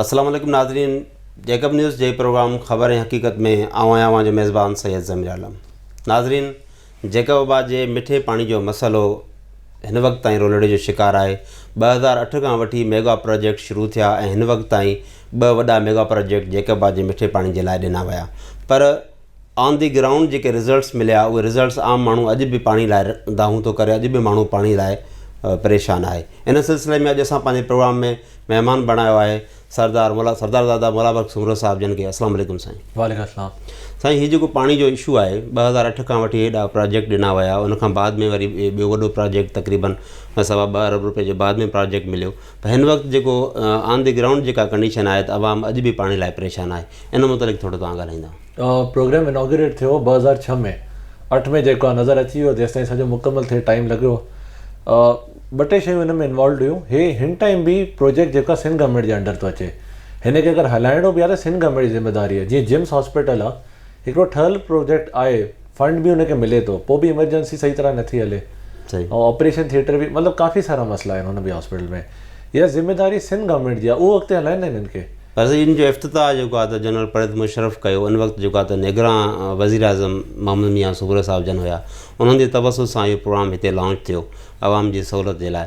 السلام عليڪم ناظرين جيڪب نيوز جي پروگرام خبر ۽ حقيقت ۾ آئون آهيان اوهان جو ميزبان سيد ضمير عالم ناظرين جيڪب آباد جي مٺي پاڻي جو مسئلو هن وقت تائين رولڙي جو شڪار آهي ٻه هزار اٺ کان وٺي ميگا پروجيڪٽ شروع ٿيا ۽ هن وقت تائين ٻه وڏا ميگا پروجيڪٽ جيڪب آباد جي مٺي پاڻي جي لاء ڏنا ويا پر آن دي گرائونڊ جيڪي رزلٽس مليا اهي رزلٽس عام ماڻهو اڄ به پاڻي لاء دانهون ٿو ڪري اڄ به ماڻهو پاڻي لاء پريشان آهي ان سلسلي ۾ اڄ اسان پنهنجي پروگرام ۾ مهمان بڻايو آهي سردار مولا سردار دادا مولا بخش سومرو صاحب جن کي السلام عليڪم سائين وعليڪم السلام سائين هي جيڪو پاڻي جو اشو آهي ٻه هزار اٺ کان وٺي هيڏا پراجيڪٽ ڏنا ويا ان کان بعد ۾ وري ٻيو وڏو پراجيڪٽ تقريبن سوا ٻه ارب روپئي جو بعد ۾ پراجيڪٽ مليو پر هن وقت جيڪو آن دي گرائونڊ جيڪا ڪنڊيشن آهي ته عوام اڄ به پاڻي لاء پريشان آهي ان متعلق ٿورو توهان ڳالهائيندا. پروگرام اناگوريٽ ٿيو ٻه هزار ڇهه ۾ اٺ ۾ جيڪو آهي نظر اچي ويو جيستائين سڄو مڪمل ٿئي ٽائيم لڳيو ٻه ٽي شيون هن ۾ انوالوڊ هيون هي هن ٽائيم به پروجيڪٽ جيڪو آهي سنڌ گورنمينٽ جي انڊر ٿو اچي هن کي اگر هلائڻو به آهي ته سنڌ گورنمينٽ جي ذميواري آهي جيئن جمس هاسپيٽل آهي هڪڙو ٺهيل پروجيڪٽ آهي فنڊ به ان کي ملي ٿو پوء به ايمرجنسي صحيح طرح نٿي هلي صحيح ۽ آپريشن ٿيٽر به مطلب ڪافي سارا مسئلا آهن هن به هاسپيٽل ۾ اها ذميواري سنڌ گورنمينٽ جي آهي اهو اڳتي هلائين نه هنن کي. پر سائين ان جو افتتاح جيڪو آهي ته جنرل پريز مشرف ڪيو ان وقت جيڪو آهي ته نگران وزيراعظم محمد ميان سوگرو صاحب جن هيا انهن جي توسط سان اهو پروگرام هتي لانچ ٿيو عوام جي سهولت جي لاء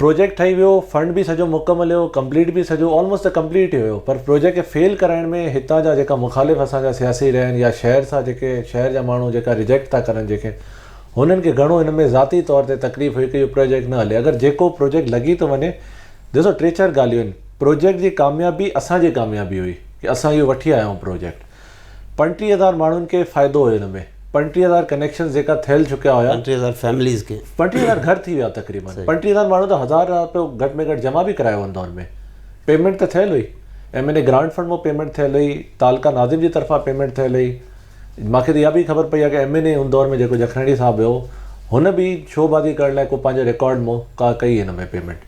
پروجيڪٽ ٺهي ويو فنڊ به سڄو مڪ مليو ڪمپليٽ به سڄو آلموسٽ ته ڪمپليٽ ئي هيو پر پروجيڪٽ کي فيل ڪرائڻ ۾ هتان جا جيڪا مخالف اسان جا سياسي رهيا آهن يا شهر سان جيڪي شهر جا ماڻهو جيڪا ريجيڪٽ ٿا ڪرن جنهن کي هنن کي گهڻو ان ۾ ذاتي طور تي تڪليف هئي ڪي اهو پروجيڪٽ نه هلي اگر جيڪو پروجيڪٽ لڳي ٿو وڃي ڏسو ٽي چار ڳالهيون آهن پروجيڪٽ جي ڪاميابي اسان جي ڪاميابي هئي ڪي اسان اهو وٺي آيا آهيون پروجيڪٽ پنٽيهه هزار ماڻهن کي فائدو هيو ان ۾، پنٽيهه هزار ڪنيڪشنز جيڪا ٿيل چڪيا هيا. پنٽيهه هزار فيمليز کي. پنٽيهه هزار گهر ٿي ويا تقريبن. پنٽيهه هزار ماڻهو ته هزار رپيو گهٽ ۾ گهٽ جمع به ڪرايو ان دور ۾. پيمينٽ ته ٿيل هئي. M N A grant fund مون پيمينٽ ٿيل هئي. تعلقه ناظم جي طرفان پيمينٽ ٿيل هئي. مان کي ته اها به خبر پئي آهي ڪه ايم اين اي ان دور ۾ جيڪو جکرڻي صاحب هيو هن به شو بازي ڪرڻ لاء ڪو پنهنجو ريڪارڊ مون ڪا ڪئي ان ۾ پيمينٽ.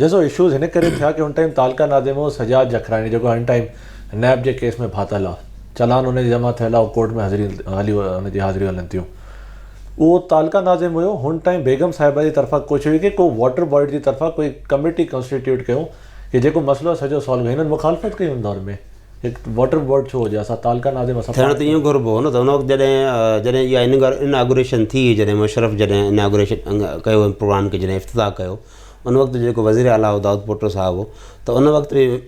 ڏسو اشوز هن ڪري ٿيا ڪي ان ٽائيم تعلقه نادم هو سجاد جکراڻي جيڪو هن ٽائيم نيب جي ڪيس ۾ ڦاٿل آ چلان ان جي جمع ٿيل آ ڪورٽ ۾ حاضري هلي ان جي حاضريون هلن ٿيون اهو تعلقه نادم هيو هن ٽائيم بيگم صاحبه جي طرفا ڪوشش هئي ڪي ڪو واٽر بورڊ جي طرفا ڪوئي ڪميٽي ڪنسٽيٽيوٽ ڪيون ڪي جيڪو مسئلو سڄو سالو هنن مخالفت ڪئي ان دور ۾ هڪ واٽر بورڊ ڇو هجي اسا تعلقه نادم اسا ٿيڻ ته ايون گهربو هو نه ته ان وقت جڏهن جڏهن اها اناگوريشن ٿي جڏهن مشرف جڏهن اناگوريشن ڪيو پروگرام کي جڏهن افتتاح ڪيو ان وقت جو جيڪو وزير اعليٰ هو دائود پوٽو صاحب هو ته ان وقت به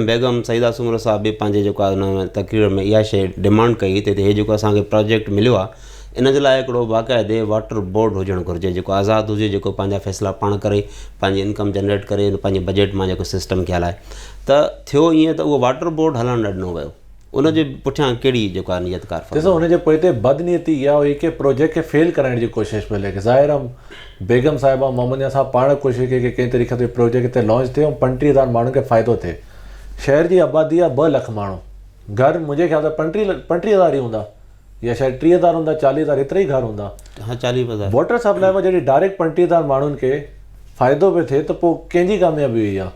بيگم سعيده سومرو صاحب به پنهنجي جيڪو آهي ان ۾ تقرير ۾ اها شيء ڊمانڊ ڪئي تي تي هي جيڪو اسان کي پراجيڪٽ مليو آهي ان جي لاء هڪڙو باقاعدي واٽر بورڊ هجڻ گهرجي جيڪو آزاد هجي جيڪو پنهنجا فيصلا پاڻ ڪري پنهنجي انڪم جنريٽ ڪري پنهنجي بجيٽ مان جيڪو سسٽم کي هلائي ته ٿيو ائين ته اهو واٽر بورڊ هلڻ نه ڏنو ويو ان جي پٺيان ڪهڙي جيڪا نيت ڪار فرمائي. ڏسو ان جي پوئتي بد نيتي اها هئي ڪي پروجيڪٽ کي فيل ڪرائڻ جي ڪوشش پئي لڳي ظاهر ام بيگم صاحبه ۽ محمد نياز صاحب پاڻ ڪوشش ڪئي ڪي ڪنهن طريقي سان پروجيڪٽ هتي لانچ ٿئي ۽ پنٽيهه هزار ماڻهن کي فائدو ٿئي شهر جي آبادي آهي ٻه لک ماڻهو گهر منهنجي خيال سان پنٽيهه پنٽيهه هزار ئي هوندا يا شايد ٽيهه هزار هوندا چاليهه هزار ايترا ئي گهر هوندا ها چاليهه پنجاهه واٽر سپلاء مان جڏهن ڊائريڪٽ پنٽيهه هزار ماڻهن کي فائدو پيو ٿئي ته پوء ڪنهن جي ڪاميابي هئي اها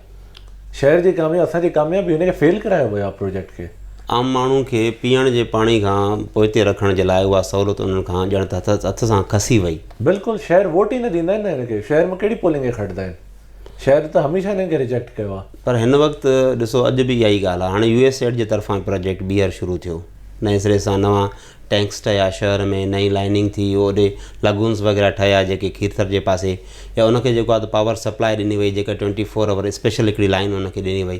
شهر جي ڪاميابي اسان جي ڪاميابي هن کي فيل ڪرايو ويو آهي پروجيڪٽ کي. عام ماڻهو کي پيئڻ جي پاڻي کان پوئتي رکڻ جي لاء اها سهولت انهن کان ڄڻ ته هٿ سان کسي وئي. بلڪل شهر ووٽ ئي نه ڏيندا آهن نه هن کي شهر مان ڪهڙي پولنگ کي کٽدا آهن. شايد ته هميشه هنن کي ريجيڪٽ ڪيو آهي. پر هن وقت ڏسو اڄ به اها ئي ڳالهه آهي هاڻي يو ايس ايڊ جي طرفان پراجيڪٽ ٻيهر شروع ٿيو نئين سري سان نوان ٽينڪس ٺهيا شهر ۾ نئين لائننگ ٿي اوڏي لگونس وغيره ٺهيا جيڪي کيرٿر جي پاسي يا ان کي جيڪو آهي ته پاور سپلاء ڏني وئي جيڪا ٽوئنٽي فور آور اسپيشل هڪڙي لائن ان کي ڏني وئي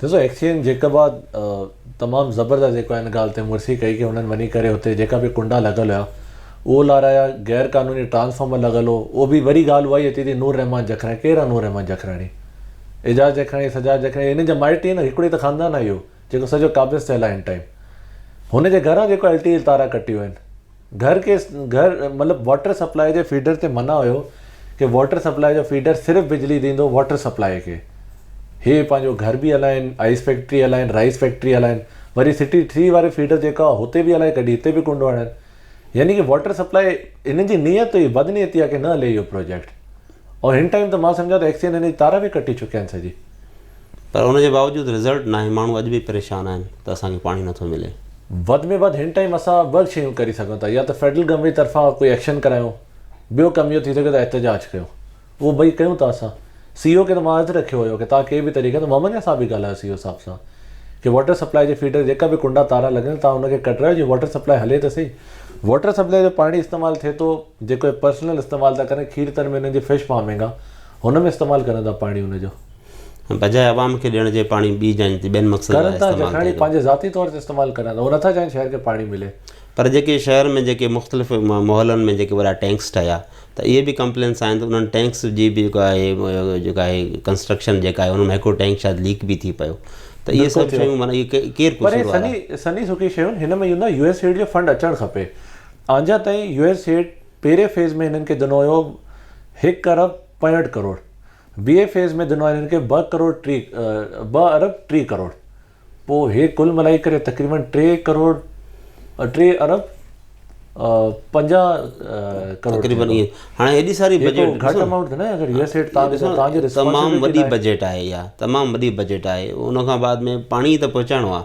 ڏسو ايڪسچينج جيڪب آ تمام زبردست جيڪو آ ان ڳالهه تي مڙسي ڪئي ڪي هنن وڃي ڪري هتي جيڪا به ڪنڊا لڳل هيا اهو لارايا غير قانوني ٽرانسفارمر لڳل هو اهو به وري ڳالهه اها ئي اچي ٿي نور رحمان جکراڻي ڪير آ نور رحمان جکراڻي اعجاز جکراڻي سجاد جکراڻي هنن جا مائٽ ئي نه هڪڙو ئي ته خاندان آ اهو جيڪو سڄو قابض ٿيل آ هن ٽائيم هن جي گهران جيڪو LTE تارا ڪٽيون آهن گهر کي گهر مطلب واٽر سپلاء جي فيڊر تي منع هيو ڪي واٽر سپلاء جو فيڊر صرف بجلي ڏيندو واٽر سپلاء کي هي پنهنجو گهر به هلائين آئيس فيڪٽري هلائين رائيس فيڪٽري هلائين وري سٽي ٿري واري فيڊر جيڪا هتي به هلائي ڪڍي هتي به ڪنڊو هڻن يعني ڪي واٽر سپلاء هنن جي نيت هئي بدنيتي آ ڪي نه هلي اهو پروجيڪٽ ۽ هن ٽائيم ته مان سمجهان ٿو ايڪسين هن جي تار به ڪٽي چڪيا آهن سڄي پر ان جي باوجود رزلٽ ناهي ماڻهو اڄ به پريشان آهن ته اسان کي پاڻي نٿو ملي. وڌ ۾ وڌ هن ٽائيم اسان ٻه شيون ڪري سگهون ٿا يا ته فيڊرل گورنمينٽ طرفان ڪوئي ايڪشن ڪرايون ٻيو ڪم اهو ٿي سگهي ته احتجاج ڪيون اهو ٻئي ڪيون ٿا اسان سي او کي ته مان عرض رکيو هيو ڪي تان ڪي به طريقي سان محمد نياز صاحب به ڳالهايو سي او صاحب سان ڪي واٽر سپلائي جي فيڊر جيڪا به ڪنڊا تارا لڳل تان ان کي ڪڍرايو جي واٽر سپلائي هلي ته سهي واٽر سپلائي جو پاڻي استعمال ٿي ٿو جيڪو هي پرسنل استعمال ٿا ڪرن کير تر ۾ انهن جي فش فارمنگ آ هن ۾ استعمال ڪرن ٿا پاڻي ان جو. بجاء عوام کي ڏيڻ جي پاڻي ٻي جاين تي ٻين مقصد لاء ڪرن ٿا استعمال جکاڻي ٿئي ٿو. پنهنجي ذاتي طور تي استعمال ڪرن ٿا هو نٿا چاهين شهر کي پاڻي ملي. پر جيڪي شهر ۾ جيڪي مختلف محلن ۾ جيڪي وڏا ٽينڪس ٺهيا ته اهي به ڪمپلينس آهن ته انهن ٽينڪس جي به جيڪو آهي جيڪو آهي ڪنسٽرڪشن جيڪا آهي ان مان هڪڙو ٽينڪ شايد ليڪ به ٿي پيو ته اهي بلڪل سڀ ٿيو شيون معنيٰ اهي ڪير پر قصور هي وارا سني سني سڪي شيون هن ۾ you know U S aid جو فنڊ اچڻ کپي آنجا تائين يو ايس ايڊ پهرين فيز ۾ هنن کي ڏنو هيو هڪ ارب پنجهٺ ڪروڙ، ٻئي فيز ۾ ڏنو آهي هنن کي ٻه ڪروڙ ٽي ٻه ارب ٽي ڪروڙ، پوء هي ڪل ملائي ڪري تقريبن ٽي ڪروڙ ٽي ارب پنجاهه ڪروڙ تقريبن ٿيندو. ائين هاڻي هيڏي ساري هي ڪو بجيٽ گهٽ ڏسو امائونٽ ٿي نه اگر ريئل اسٽيٽ تان ڏسو تان جي تمام ريسپانسبلٽي وڏي ناهي. بجيٽ آهي اها تمام وڏي بجيٽ آهي ان کان بعد ۾ پاڻي ته پهچائڻو آهي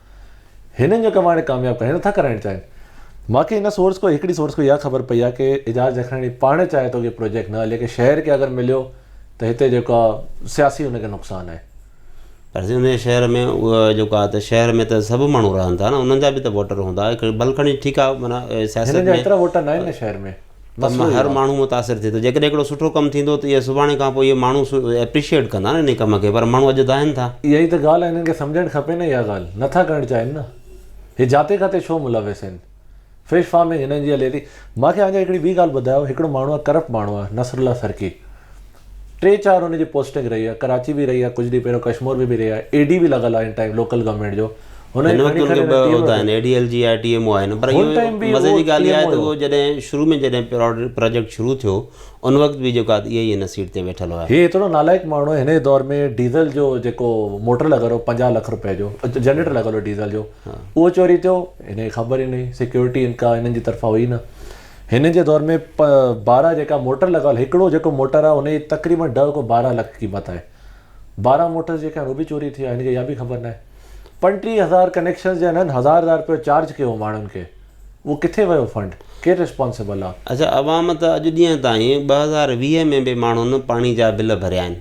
هنن جو ڪم هاڻي ڪامياب ڪرڻ نٿا ڪرائڻ چاهين. مان کي هن سورس کان هڪڙي سورس کان اها خبر پئي آهي ڪي اعجاز جکڻاڻي پاڻ چاهي ٿو ڪي پروجيڪٽ نه هلي ڪي شهر کي اگر مليو ته هتي جيڪا سياسي ان کي نقصان آهي. پر سائين انهي شهر ۾ اها جيڪو آهي ته شهر ۾ ته سڀ ماڻهو رهن ٿا نه انهن جا به ته ووٽر هوندا ڀل کڻي ٺيڪ آهي معنيٰ سياست ۾ هنن جا ايترا ووٽر ناهن نه شهر ۾. ته مان هر ماڻهو متاثر ٿئي ٿو جيڪڏهن هڪڙو سٺو ڪم ٿيندو ته اهي سڀاڻي کان پوء اهي ماڻهو اپريشيئيٽ ڪندا نه ان ڪم کي پر ماڻهو اڄ دانهن ٿا. اها ئي ته ڳالهه آهي هنن کي سمجهڻ کپي نه اها ڳالهه نٿا ڪرڻ چاهين نه هي جاتي کاتي ڇو ملوث آهن فش فارمنگ هنن جي هلي ٿي مانکي آنجا هڪڙي ٻي ڳالهه ٻڌايو هڪڙو ماڻهو آهي ڪرپٽ ماڻهو آهي نصرالله سرڪي ٽي چار ان جي پوسٽنگ رهي آهي ڪراچي به رهي آهي ڪجهه ڏينهن پهريون ڪشمور ۾ به رهي آهي اي ڊي به لڳل آهي ان ٽائيم لوڪل گورنمينٽ جو هن هن وقت ان کي ٻه عهدا آهن اي ڊي ايل جي آهي ٽي ايم او آهن پر هن ٽائيم به مزي جي ڳالهه اها آهي ته هو جڏهن شروع ۾ جڏهن پراجيڪٽ شروع ٿيو ان وقت به جيڪو آهي اهي ئي هن سيٽ تي ويٺل هيا. هي ايترو نالائق ماڻهو هن جي دور ۾ ڊيزل جو جيڪو موٽر لڳل هو پنجاهه لک روپيه جو جنريٽر لڳل هو ڊيزل جو اهو چوري ٿيو هن کي خبر ئي نه هئي سيڪيورٽي ان ڪا هنن جي طرفان هئي نه هن جي دور ۾ پ بارهن جيڪا موٽر لڳل هڪڙو جيڪو موٽر آهي ان جي تقريبن ڏهه کان بارهن لک قيمت آهي بارهن موٽرز جيڪي آهن اهي به چوري ٿي ويا هن کي اها به خبر ناهي پنٽيهه هزار ڪنيڪشنز جا هنن هزار هزار رپيو چارج ڪيو هو ماڻهن کي اهو ڪٿي ويو فنڊ ڪير رسپانسبل آهي. اڇا عوام ته اڄ ڏينهن تائين ٻه هزار ويهه ۾ به ماڻهن پاڻي جا بل ڀريا آهن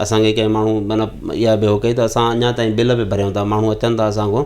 اسان کي ڪنهن ماڻهو معنيٰ اها به هو ڪئي ته اسان اڃا تائين بل به ڀريون ٿا ماڻهو اچن ٿا اسان کان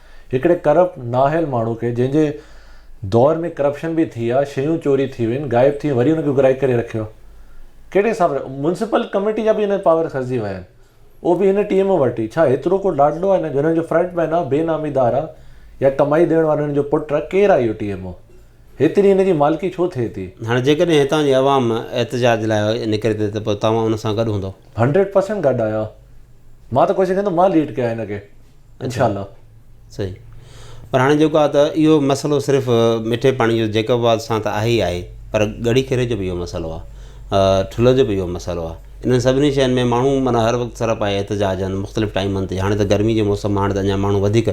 هڪڙي ڪرپٽ نااهل ماڻهو کي جنهن جي دور ۾ ڪرپشن به ٿي آ، شيون چوري ٿي وين، غائب ٿي وين وري ان کي گهرائي ڪري رکيو آ. ڪهڙي حساب سان؟ ميونسپل ڪميٽي جا به هن پاور کسجي ويا آهن. اهو به هن ٽيم وٽ ئي. ڇا هيترو ڪو لاڏلو آهي نه جو هن جو فرنٽ مين آ، بي نامي دار آ يا ڪمائي ڏيڻ وارو هن جو پٽ آ، ڪير آ اهو ٽي ايم او؟ هيتري هن جي مالڪي ڇو ٿئي ٿي؟ هاڻي جيڪڏهن هتان جي عوام احتجاج لاء نڪري ٿي ته پوء توهان ان سان گڏ هوندؤ؟ هنڊريڊ پرسنٽ گڏ آهيان. مان ته ڪوشش ڪندم مان ليڊ ڪيان هن کي. انشاء الله صحيح پر هاڻي جيڪو آهي ته اهو مسئلو صرف مٺي پاڻي جو جيڪب آباد سان ته آهي ئي آهي پر ڳڙهي کيري جو بي اهو مسئلو آهي ٺلهه جو بي اهو مسئلو آهي انهن سڀني شين ۾ ماڻهو معنيٰ هر وقت سر پائي احتجاج آهن مختلف ٽائيمن تي هاڻي ته گرمي جو موسم آهي هاڻي ته اڃا ماڻهو وڌيڪ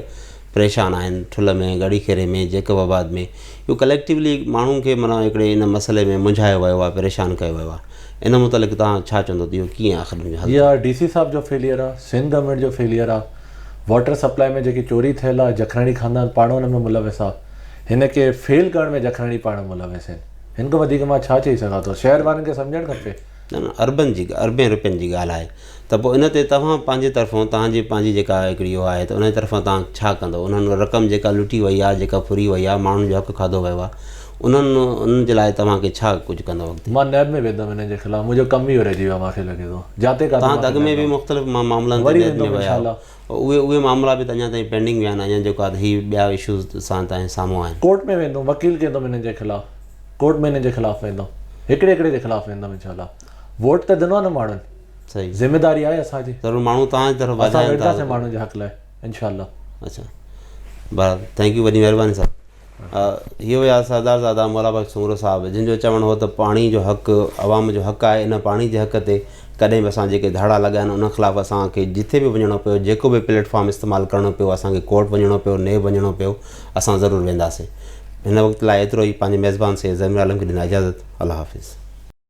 پريشان آهن ٺلهه ۾ ڳڙهي کيري ۾ جيڪب آباد ۾ جو ڪليڪٽيولي ماڻهن کي معنيٰ هڪڙي ان مسئلي ۾ منجهايو ويو آهي پريشان ڪيو ويو آهي ان متعلق توهان ڇا چوندو ته اهو ڪيئن آخر ان جو حل ٿيندو. اها ڊي سي صاحب جو فيليئر آ، سنڌ گورنمينٽ جو فيليئر آ، واٽر سپلائي ۾ جيڪي چوري ٿيل آ جکراڻي خاندان پاڻ ان ۾ ملوث آ، هن کي فيل ڪرڻ ۾ جکراڻي پاڻ ملوث آهن، هن کان وڌيڪ مان ڇا چئي سگهان ٿو، شهر وارن کي سمجهڻ کپي. نه نه اربن جي اربين روپين جي ڳالهه آهي. ته پوء ان تي توهان پنهنجي طرفان توهان جي پنهنجي جيڪا هڪڙي اهو آهي ته ان جي طرفان توهان ڇا ڪندو انهن رقم جيڪا لٽي وئي آهي جيڪا ڦري وئي آهي ماڻهن جو حق کاڌو ويو آهي انهن انهن جي لاء توهان کي ڇا ڪجهه ڪندو اڳتي. مان نيب ۾ ويندم انهن جي خلاف منهنجو ڪم ئي اهو رهجي ويو آهي مان کي لڳي ٿو جاتي ڪاتي توهان ته اڳ ۾ به مختلف معاملن تي نيب ۾ ويا آهيو اهي اهي معاملا به ته اڃا تائين پينڊنگ ويا آهن اڃا جيڪو هي ٻيا اشوز اسان تائين سامهون آهن. ڪورٽ ۾ ويندم وڪيل ڪيندم انهن جي خلاف ڪورٽ ۾ انهن جي خلاف ويندم هڪڙي هڪڙي جي خلاف ويندم انشاء الله. ووٽ ته ڏنو آ نه ماڻهن صحيح ذميداري آهي اسان جي ضرور ماڻهو تان جي طرف اسان ويندا اسان ماڻهن جي حق لاء انشاء الله اچا بهرحال ٿينڪ يو وڏي مهرباني صاحب هي هيا سردار زادا مولا بخش سومرو صاحب جن جو چوڻ هو ته پاڻي جو حق عوام جو حق آهي ان پاڻي جي حق تي ڪڏهن به اسان جيڪي ڌاڙا لڳا آهن ان خلاف اسان کي جتي به وڃڻو پيو جيڪو به پليٽفارم استعمال ڪرڻو پيو اسان کي ڪورٽ وڃڻو پيو نيب وڃڻو پيو اسان ضرور وينداسين هن وقت لاء ايترو ئي پنهنجي ميزبان سيد زمير عالم کي ڏنا اجازت الله حافظ